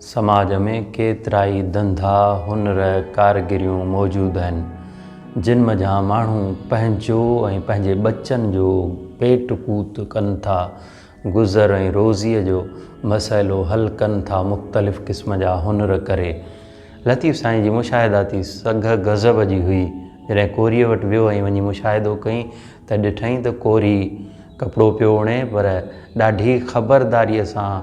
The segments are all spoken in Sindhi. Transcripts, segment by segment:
سماج ۾ ڪيترائي ڌنڌا هنر ڪارگريون موجود آهن جن منجهان ماڻهو پنهنجو ۽ پنهنجي ٻچن جو پيٽ پوت ڪن ٿا گذر ۽ روزيء جو مسئلو حل ڪن ٿا مختلف قسم جا هنر ڪري. لطيف سائين جي مشاهداتي سگهه غضب جي هئي. جڏهن ڪوريء وٽ ويو ۽ وڃي مشاهدو ڪئين ته ڏٺائين ته ڪوري ڪپڙو پيو اڻي پر ڏاڍي خبرداريء سان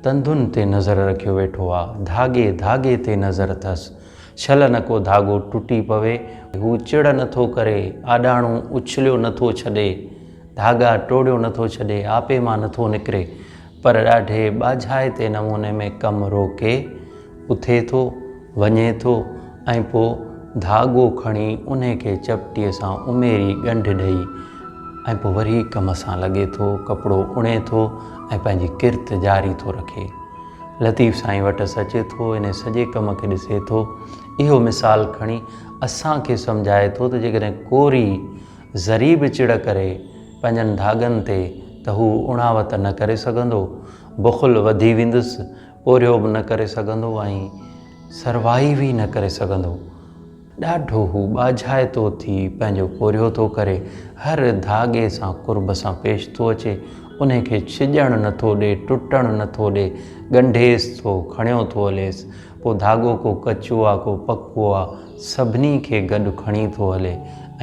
تندن تي نظر رکيو ويٺو آ. ڌاڳي ڌاڳي تي نظر اٿس. شل نه ڪو ڌاڳو ٽٽي پوي. هو چڙ نه ٿو ڪري، آڏاڻو اڇليو نه ٿو ڇڏي. ڌاڳا ٽوڙيو نٿو ڇڏي، آپي مان نٿو نڪري، پر ڏاڍي ٻاجهائتي نموني ۾ ڪم روڪي، اٿي ٿو، وڃي ٿو ۽ پوء ڌاڳو کڻي انهي کي چپٽي سان اميري ڳنڍ ڏئي ۽ پوء وري ڪم سان لڳي ٿو، ڪپڙو اڻي ٿو ۽ پنهنجي ڪرت جاري ٿو رکي. لطيف سائين وٽس اچي ٿو، انهي سڄي ڪم کي ڏسي ٿو. اهو مثال کڻي اسان کي سمجهائي ٿو ته جيڪڏهن ڪوري ذري به چڙ ڪري پنهنجن ڌاڳن تي ته هو اڻاوت نه ڪري سگهندو، بخل وڌي ويندس، پورهيو به نه ڪري سگهندو ۽ سروائيو ئي نه ڪري سگهندو. ڏاڍو هو ٻاجهائتو ٿي پنهنجو پورهيو ٿو ڪري، هر ڌاڳي سان قرب سان پيش ٿو اچي، انهي کي ڇڄڻ نه ٿو ڏي، ٽٽڻ نه ٿو ڏي، ڳنڍيس ٿو، کڻيو ٿو هليس، ڪو ڌاڳو ڪو ڪچو آ ڪو پڪو آ سڀني کي گڏ کڻي ٿو هلي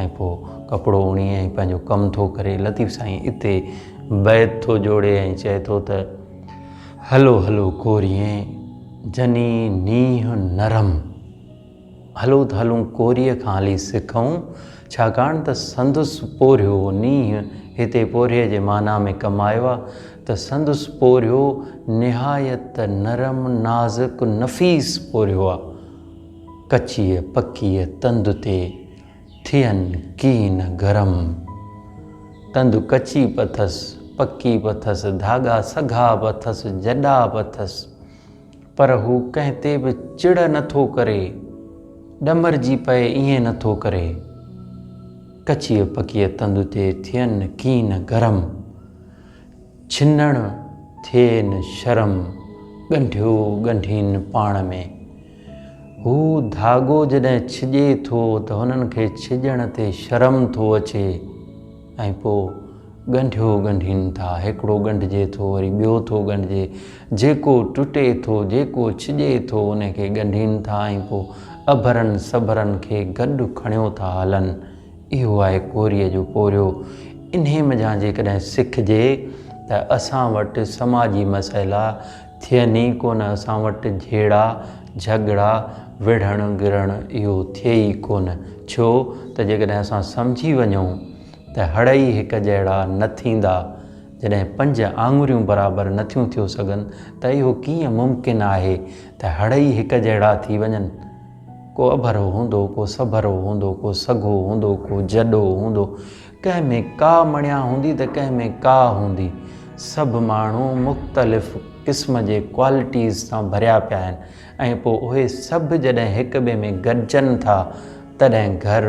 ۽ پوء ڪپڙو اڻي ۽ پنهنجو ڪم ٿو ڪري لطيف سائين اتي بيت ٿو جوڙي ۽ چئي ٿو ته هلو هلو ڪوريين جني نينهن نرم. هلو ته هلون ڪوريء کان هلي سکئون، ڇاڪاڻ ته سندس پورهيو نينهن هتي پورهيي جي معنيٰ ۾ ڪم آيو آهي ته سندس پورهيو نهايت نرم، نازڪ، نفيس پورهيو آهي. ڪچيء پڪيء تند تي ٿين ڪين گرم. تند ڪچي به اٿس، پڪي به اٿس، ڌاڳا سگها به اٿس، جڏا به اٿس. پر هو ڪنهن تي به چڙ نه ٿو ڪري، ڏمرجي پئي ائين نه ٿو ڪري. ڪچيء پڪيء تند تي ٿين ڪين گرم، ڇنڻ ٿئين شرم، ڳنڍيو ڳنڍين پاڻ ۾. هو ڌاڳو جڏهن ڇڄي ٿو ته هنن کي ڇڄڻ تي شرم ٿو اچي. ۽ پوء ڳنڍيو ڳنڍين ٿا. هڪڙو ڳنڍجي ٿو، وري ٻيو ٿو ڳنڍجي. جيڪو ٽٽي ٿو، جيڪو ڇڄي ٿو، ان کي ڳنڍين ٿا ۽ پوء اڀرن سڀرن کي گڏ کڻيو ٿا هلن. اهو آهي ڪوريء جو پورهيو. انهي منجهان جيڪڏهن سکجي ته اسان وٽ سماجي مسئلا ٿين ئي ڪونه اسان وٽ جهيڙا جهڳڙا وڙهڻ گرڻ اهو ٿئي ئي ڪونه ڇو ته جيڪڏهن اسان سمجهي وڃون ته هڙ ئي هڪ جهڙا نه ٿيندا جڏهن پنج آڱريون برابر نٿيون ٿيو سگهن ته اهو ڪيئن ممڪن آهي ته هڙ ئي هڪ جهڙا ٿي وڃن ڪو اڀرو هوندو ڪو سڀرو هوندو ڪو سگهو هوندو ڪو جڏو هوندو ڪنهن ۾ ڪا مڻيا هوندي ته ڪنهن ۾ ڪا هوندي. سڀ ماڻهو مختلف قسم جي ڪوالٽيز سان ڀريا پيا آهن ۽ پوء اهي سڀ جڏهن هڪ ٻئي ۾ گڏجن ٿا تڏهن گهر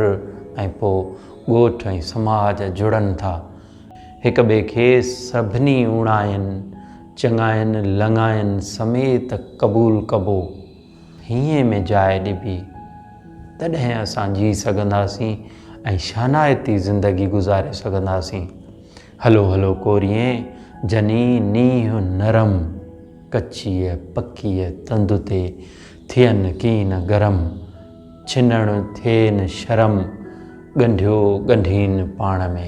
۽ پوء ڳوٺ ۽ سماج جڙن ٿا. هڪ ٻئي کي سڀني اوڻاين، چڱاين، لڱاين سميت قبول ڪبو. هينئين ۾ جاء ڏبي، تڏهن اسان جيئي سگهنداسين ۽ شانائتي زندگي گذاري سگهنداسين. هلو هلو ڪوريين جني نينهن نرم، ڪچيء پڪيء تند تي ٿين ڪين گرم، ڇنڻ ٿين شرم، ڳنڍيو ڳنڍين پاڻ ۾.